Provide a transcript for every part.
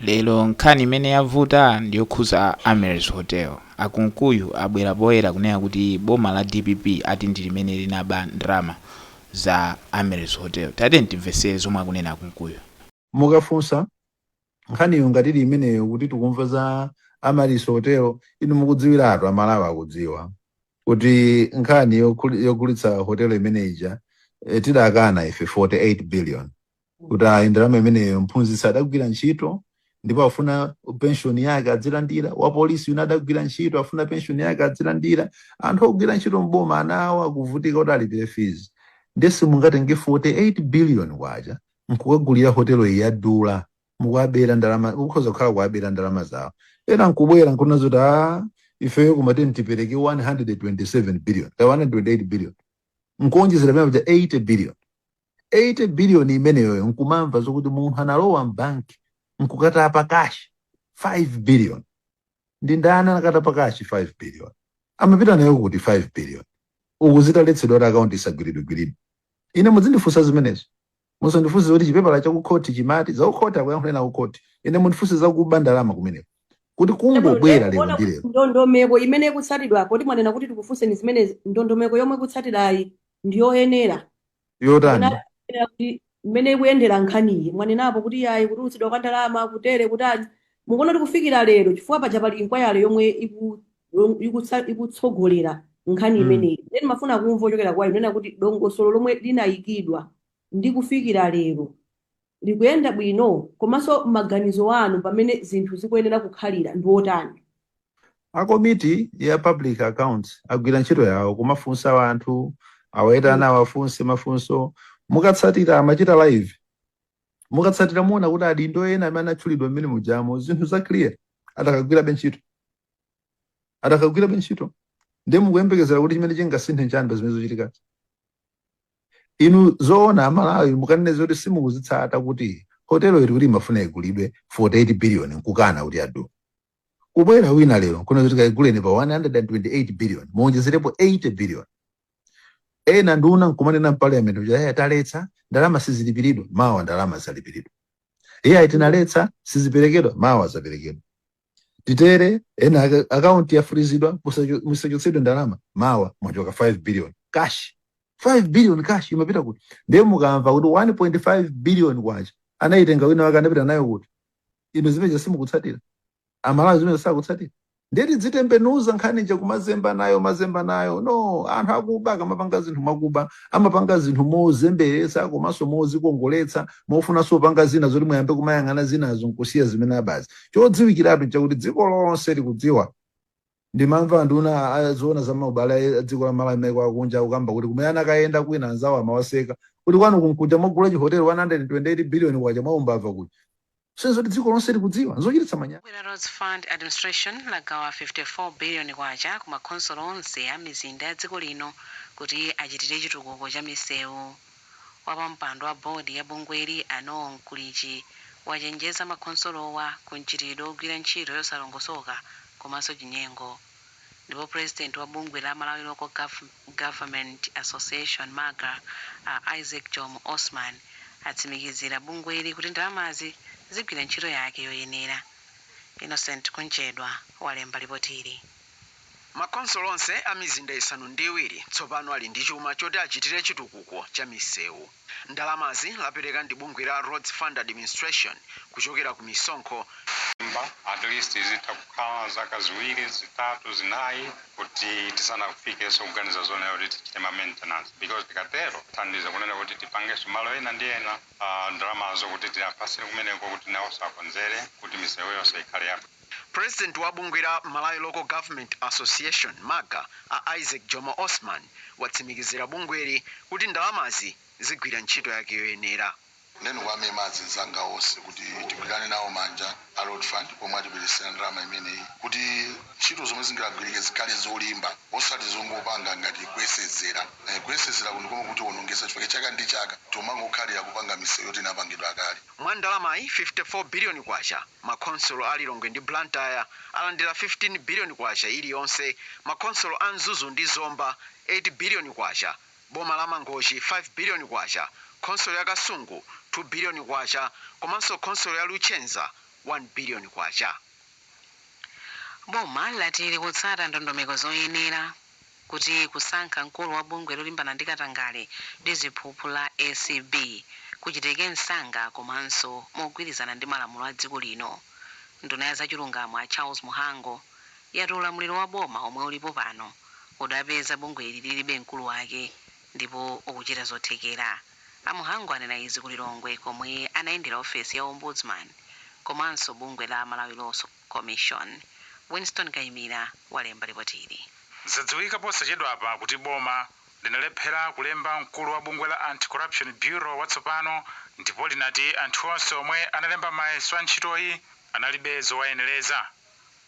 Lero nkhani imene yavuta ndiyokhuza Amere's Hotel. A Kunkuyu abwera poyera kunena kuti boma la dpp ati ndilimene linaba ndalama za Amaryllis Hotel. Tatiyeni timvetsere zomwe akunena a Kunkuyu. Mukafunsa nkhaniyo ngati ili imeneyo kuti tikumva za Amaryllis Hotel, inu mukudziwiratu, a Malawi akudziwa kuti nkhani yogulitsa hotel imene ija tidakana ife 48 billion. kuti ayi ndalama imeneyo mphunzitsi adagwira ntchito ndipo akufuna penshoni yake adzilandira wapolisi uja adagwira ntchito akufuna penshoni yake adzilandira anthu ogwira ntchito mboma anawo akuvutika kuti alipire fees ndiye simungatenge 48 billion kwacha nkukagulira hotelo iyi yadula mukuwabera ndalama ukhoza kukhala ukuwabera ndalama zawo ena nkubwera nkunena zoti a ifeyo kumati tipereke 127 billion ka 128 billion nkuonjezera pena paja 80 billion 80 billion imeneyoyo nkumamva zokuti munthu analowa mbank nkukatapa cash 5 billion ndi ndani anakatapa cash 5 billion amapita nayo kuti 5 billion uku zitaletsedwa kuti akaunti isagwiridwigwiridwe ine muzindifunsa zimenezo musandifunse zoti chipepala cha kukhoti chimati za kukhoti akuyankhuleni a kukhoti ine mundifunse zakuba ndalama kumeneko kuti kungobwera lero ndi lero ndondomeko imene ikutsatidwapo poti mwanena kuti tikufunseni zimene ndondomeko yomwe ikutsatirayi ndiyoyenera yotani Kapena kuti mmene ikuyendera nkhaniyi mwanenapo kuti yayi kutulutsidwa kwa ndalama kutere kutani mukuona kuti kufikira lero chifukwa paja pali inquiry yomwe iku- yom- ikutsa- ikutsogolera nkhani Mm. imeneyi nde ndimafuna kumva kuchokera kwa inu kunena kuti dongosolo lomwe linayikidwa ndi kufikira lero likuyenda bwino komanso maganizo anu pa mmene zinthu zikuyenera kukhalira ndi otani? A komiti ya public accounts agwira ntchito yawo kumafunsa anthu awayitana awafunse mafunso mukatsatira amachita live mukatsatira muona kuti adindo ena amene anatchulidwa mmenemujamo zinthu za clear adakagwirabe ntchito adakagwirabe ntchito ndiye mukuyembekezera kuti chimene chingasinthe nchani pa zimene zikuchitikazi Inu zoona a Malawi mukanene zoti simukuzitsata kuti hotel yo tikuti imafuna igulidwe 48 billion nkukana kuti yadula. Kubwera wina lero nkunena kuti kaiguleni pa 128 billion muonjezerepo 80 billion. Ena nduna nkumanena mparliament kuti ayi taletsa ndalama sizilipiridwa mawa ndalama zalipiridwa. Iyayi tinaletsa siziperekedwa mawa zaperekedwa. titere ena aka- akaunti yafrizidwa musacho- musachotsedwe ndalama mawa mwatchoka 5 billion cash 5 billion cash imapita kuti ndiye mukamva kuti 1.5 billion kwacha anayitenga wina wake anapita nayo kuti inu zimenezo simukutsatira amalawi zimenezo sakutsatira ndiye tidzitembenuza nkhani ija kumazemba nayo mazemba nayo no anthu akuba akamapanga zinthu mwakuba amapanga zinthu mozemberetsa komanso mozikongoletsa mofunanso kupanga zina zoti muyambe kumayang'ana zinazo nkusiya zimene abazi Chodziwikiratu nchakuti dziko lonse likudziwa. Ndimamva anduna a- a- zoona za maubale a dziko la Malawi ndi maiko akunja akukamba kuti kumene anakayenda kwina anzawo amawaseka kuti kwanu kunkuja mwagula chihoteli 128 billion kwacha mwa umbava kuja. Zedi kuti dziko lonse likudziwa. Nzochititsa manyazi. Bungwe la Roads Fund Administration lagawa 54 billion kwacha ku makhonsolo onse a mizinda ya dziko lino kuti achitire chitukuko cha misewu. Wapampando wa board ya bungweli a Noel Mkulichi wachenjeza makhonsolowa ku mchitidwe wogwira ntchito yosalongosoka komanso chinyengo. Ndipo president wa bungwe la Malawi Local Government Association, MALGA, a Isaac Jomo Osman atsimikizira bungweli kuti ndalamazi zigwira ntchito yake yoyenera. Innocent Kunchedwa walemba lipotili. Makhonsolo onse a mizinda isanu ndi iwiri tsopano ali ndi chuma choti achitire chitukuko cha misewu. Ndalamazi lapereka ndi bungwe la Roads Fund Administration kuchokera ku misonkho. At least izitha kukhala zaka ziwiri, zitatu, zinayi kuti tisanafikenso kuganiza zonena kuti tichite ma maintenance because tikatero tithandiza kunena kuti tipangenso malo ena ndi ena, ndalamazo kuti tiapatsire kumeneko kuti nawonso akonzere kuti misewu yonse ikhale yabwino. President wa bungwe la Malawi Local Government Association, MALGA, a Isaac Jomo Osman watsimikizira bungweli kuti ndalamazi zigwira ntchito yake yoyenera. Nde ndikuwamema ma meya azinzanga onse kuti tigwirane nawo manja a Road Fund pomwe atibweretsera ndalama imeneyi kuti ntchito zomwe zingagwirike zikhale zolimba osati zongopanga ngati kuyesezera. Kuyesezeraku ndikomwe kukutionongetsa chifukwa chaka ndi chaka tikumangokhalira kupanga misewu yoti inapangidwa kale. Mwa ndalamayi, K54 billion Ma khonsolo a Lilongwe ndi Blantyre alandira K15 biliyoni iliyonse, ma khonsolo a Mzuzu ndi Zomba K8 biliyoni, boma la Mangochi K5 biliyoni, khonsolo ya Kasungu K2 biliyoni komanso khonsolo ya Luchenza K1 biliyoni. Boma lati likutsata ndondomeko zoyenera. kuti kusankha mkulu wa bungwe lolimbana ndi katangale ndi ziphuphu la acb kuchitike msanga komanso mogwirizana ndi malamulo a dziko lino, nduna ya zachilungamo a Charles Mhango yati ulamuliro wa boma womwe ulipo pano udapeza bungweli lilibe mkulu wake ndipo ukuchita zothekera. A Mhango anena izi ku Lilongwe komwe anayendera ofesi ya Ombudsman komanso bungwe la Malawi Law Commission. Winston Kaimira walemba lipoti ili. Zadziwika posachedwapa kuti boma linalephera kulemba mkulu wa bungwe la Anti-Corruption Bureau watsopano ndipo linati anthu onse omwe analemba mayeso a ntchitoyi analibe zowayenereza.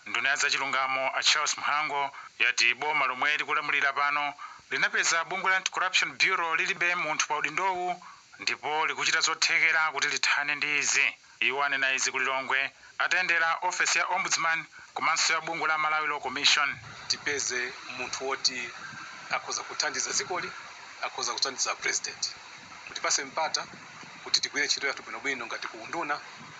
Nduna ya zachilungamo a Charles Mhango yati boma lomwe likulamulira pano linapeza bungwe la Anti-Corruption Bureau lilibe munthu pa udindowu ndipo likuchita zothekera kuti lithane ndi izi. Iwo anena izi ku Lilongwe atayendera ofesi ya Ombudsman komanso ya bungwe la Malawi Law Commission. tipeze munthu woti akhoza kuthandiza dzikoli, akhoza kuthandiza a President. Mutipatse mpata kuti tigwire ntchito yathu bwinobwino ngati ku unduna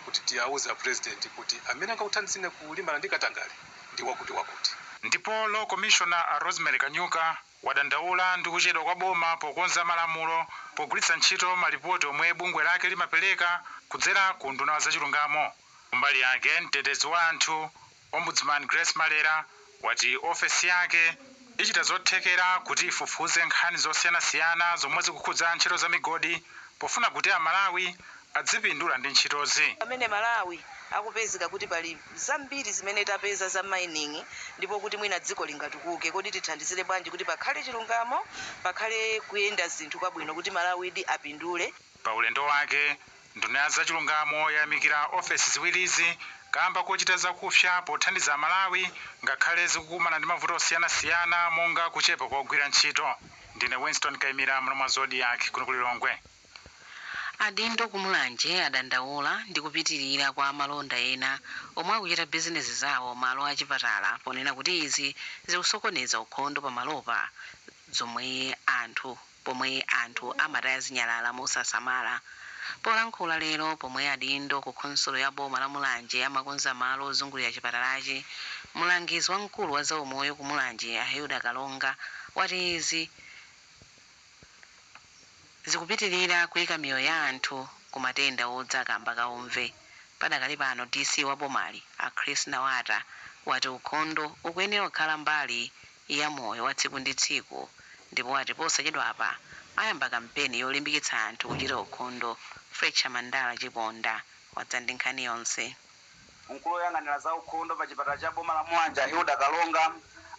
kuti tiauze a President kuti amene angakuthandizeni kulimbana ndi katangale ndi wakuti wakuti. Ndipo Law Commissioner a Rosemary Kanyuka wadandaula ndi kuchedwa kwa boma pokonza malamulo pogwiritsa ntchito malipoti omwe bungwe lake limapereka kudzera ku unduna wa zachilungamo. Kumbali yake, mtetezi wa anthu, Ombudsman Grace Malera, wati ofesi yake ichita zothekera kuti ifufuze nkhani zosiyanasiyana zomwe zikukhudza ntchito za migodi pofuna kuti Amalawi adzipindula ndi ntchitozi. Pamene Malawi akupezeka kuti pali zambiri zimene tapeza za mining ndipo kuti mwina dziko lingatukuke, kodi tithandizire bwanji kuti pakhale chilungamo, pakhale kuyenda zinthu kwabwino kuti Malawidi apindule? Pa ulendo wake, nduna ya zachilungamo yayamikira ofesi ziwirizi kaamba kochita zakupsa pothandiza Amalawi ngakhale zikukumana ndi mavuto osiyanasiyana monga kuchepa kwa ogwira ntchito. Ndine Winston Kaimira, mulomwa Zodiak, kuno ku Lilongwe. Adindo ku Mulanje adandaula ndi kupitilira kwa amalonda ena omwe akuchita bizinesi zawo malo a chipatala ponena kuti izi zikusokoneza ukhondo pamalopa zomwe anthu pomwe anthu amataya zinyalala mosasamala. Polankhula lero pomwe adindo ku khonsolo ya boma la Mulanje amakonza malo ozungulira chipatalachi, mulangizi wamkulu wa zaumoyo ku Mulanje a Hilda Kalonga wati izi zikupitilira kuika miyoyo ya anthu ku matenda odza kamba ka umve. Padakali pano DC wa bomali a Chris Nawata wati ukhondo ukuyenera kukhala mbali ya moyo wa tsiku ndi tsiku ndipo wati posachedwapa ayamba kampeni yolimbikitsa anthu kuchita ukhondo. Fletcher Mandala Chiponda wadza ndi nkhani yonse. Mkulu oyang'anira za ukhondo pa chipatala cha boma la Mulanje a Hilda Kalonga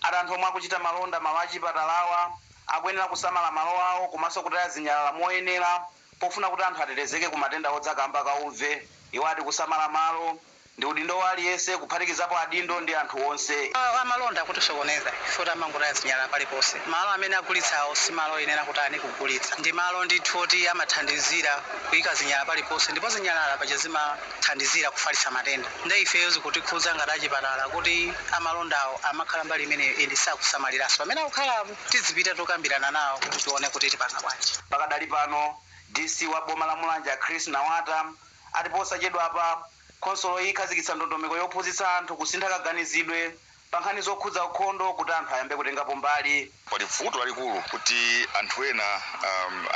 ati anthu omwe akuchita malonda malo achipatalawa akuyenera kusamala malo awo komanso kutaya zinyalala moyenera pofuna kuti anthu atetezeke ku matenda odza kamba ka uve. Iwo ati kusamala malo ndi udindo wa aliyense kuphatikizapo adindo ndi anthu onse. Amalonda akutisokoneza ife poti amangotaya zinyalala paliponse. Malo amene agulitsawo si malo oyenera kutani kugulitsa. Ndi malo ndithu oti amathandizira kuika zinyalala paliponse ndipo zinyalala paja zima. zimathandizira kufalitsa matenda nde ifeyo zikutikhudza ngati achipatala kuti amalondawo amakhala mbali imeneyo and sakusamaliranso pamene akukhalapo. Tidzipita tokambirana nawo kuti tione kuti tipanga bwanji. Pakadali pano, DC wa boma la Mulanje a Chris Nawata ati posachedwapa khonsoloyi ikhazikitsa ndondomeko yophunzitsa anthu kusintha kaganizidwe pankhani zokhudza ukhondo kuti anthu ayambe kutengapo mbali. Pali bvuto lalikulu kuti anthu ena,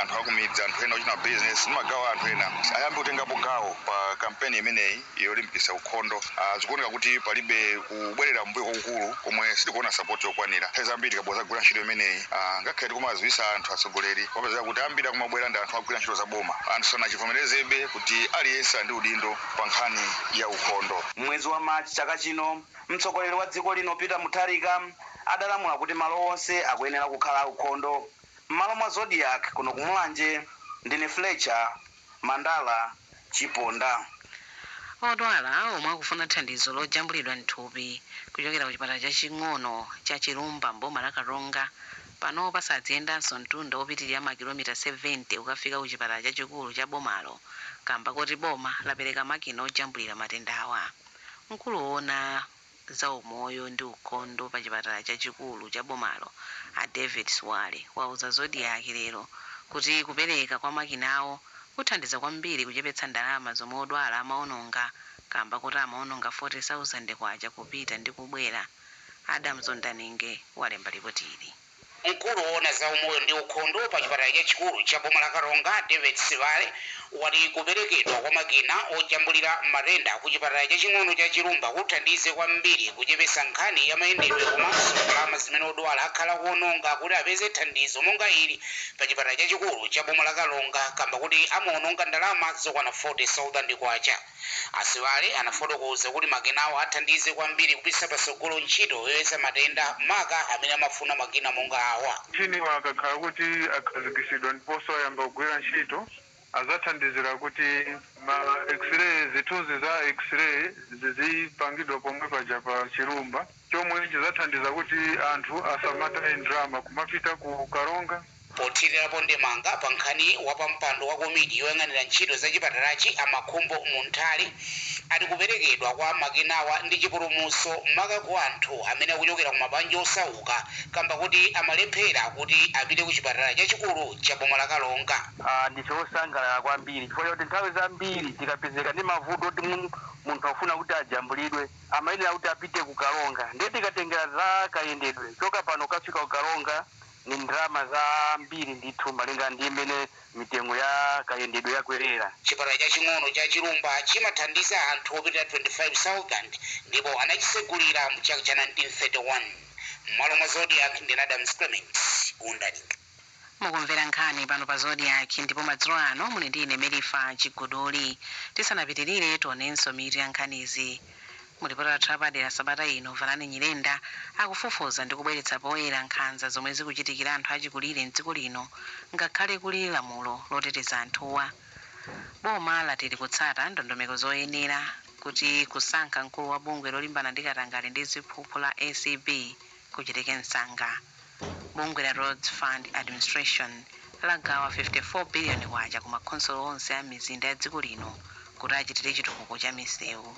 anthu akumidzi, anthu ena ochita bizinesi ndi magawo a anthu ena ayambe kutengapo gawo pa kampeni imeneyi yolimbikitsa ukhondo. Zikuoneka kuti palibe kubwerera m'mbuyo kwakukulu komwe sitikuona sapoti yokwanira. Nthawi zambiri tikabwera kudzagwira ntchito imeneyi, ngakhale tikumawadziwitsa anthu, atsogoleri, kumapezeka kuti ambiri akumabwera ndi anthu ogwira ntchito za boma. Anthu sanachivomerezebe kuti aliyense ali ndi udindo pa nkhani ya ukhondo. M'mwezi wa March chaka chino, Mtsogoleri wa dziko lino Peter Mutharika adalamula kuti malo onse akuyenera kukhala aukhondo. M'malo mwa Zodiak kuno ku Mulanje, ndine Fletcher Mandala Chiponda. Odwala omwe akufuna thandizo lojambulidwa mthupi kuchokera ku chipatala chaching'ono cha Chilumba m'boma la Karonga panopa sadziyendanso mtunda opitilira ma kilomita 70 kukafika ku chipatala chachikulu cha bomalo kamba koti boma lapereka makina ojambulira matendawa. Mkulu woona za umoyo ndi ukhondo pa chipatala chachikulu cha bomalo a David Sibale wauza Zodiak lero kuti kupereka kwa makinawo kuthandiza kwambiri kuchepetsa ndalama zomwe odwala amaononga kamba koti amaononga K40,000 kupita ndi kubwera. Adamson Daninge walemba lipotili. Mkulu woona za umoyo ndi ukhondo pa chipatala chachikulu cha boma la Karonga, David Sibale, wati kuperekedwa kwa makina ojambulira matenda ku chipatala chaching'ono cha Chilumba kuthandize kwambiri kuchepesa nkhani ya mayendedwe komanso ndalama zimene odwala akhala akuononga kuti apeze thandizo monga ili pa chipatala chachikulu cha boma la Karonga kamba koti amaononga ndalama zokwana K40,000. A Sibale anafotokoza kuti makinawo athandize kwambiri kupititsa patsogolo ntchito yoyeza matenda maka amene amafuna makina monga awa. Mashiniwa akakhala kuti akhazikitsidwa ndiponso ayamba kugwira ntchito, azathandizira kuti ma x-ray, zithunzi za x-ray zizipangidwa pomwe paja pa Chilumba. chomwe chidzathandiza kuti anthu asamataye ndalama kumapita ku Karonga. Pothirirapo ndemanga pa nkhaniyi, wapampando wa komiti yoyang'anira ntchito za chipatalachi a Makhumbo Munthali ati kuperekedwa kwa makinawa ndi chipulumutso maka ku anthu amene akuchokera ku mabanja osauka kamba koti amalephera kuti apite ku chipatala chachikulu cha boma la Karonga. Ndife osangalala kwambiri chifukwa chakuti nthawi zambiri tikapezeka ndi mavuto oti munthu akufuna kuti ajambulidwe, amayenera kuti apite ku karonga ndiye tikatengera za kayendedwe kuchoka pano kukafika ku karonga ni ndalama zambiri ndithu malinga ndi mmene mitengo ya kayendedwe yakwerera Chipatala chaching'ono cha Chilumba chimathandiza anthu opitirira 25,000 ndipo anachisegulira mu chaka cha 1931. M'malo mwa Zodiak ndi Adams Clements Undani. Mukumvera nkhani pano pa Zodiak ndipo madzulo ano muli ndi ine Merifa Chiguduli. Tisanapitirire, tionenso mitu ya nkhanizi. Mu lipoti lathu lapadera sabata ino, Vanani Nyirenda akufufuza ndi kubweretsa poyera nkhanza zomwe zikuchitikira anthu achikulire m'dziko lino ngakhale kuli lamulo loteteza anthuwa. Boma lati likutsata ndondomeko zoyenera kuti kusankha mkulu wa bungwe lolimbana ndi katangale ndi ziphuphu la acb. kuchitike msanga. Bungwe la Roads Fund Administration lagawa K54 biliyoni ku makhonsolo onse a mizinda ya dziko lino kuti achitire chitukuko cha misewu.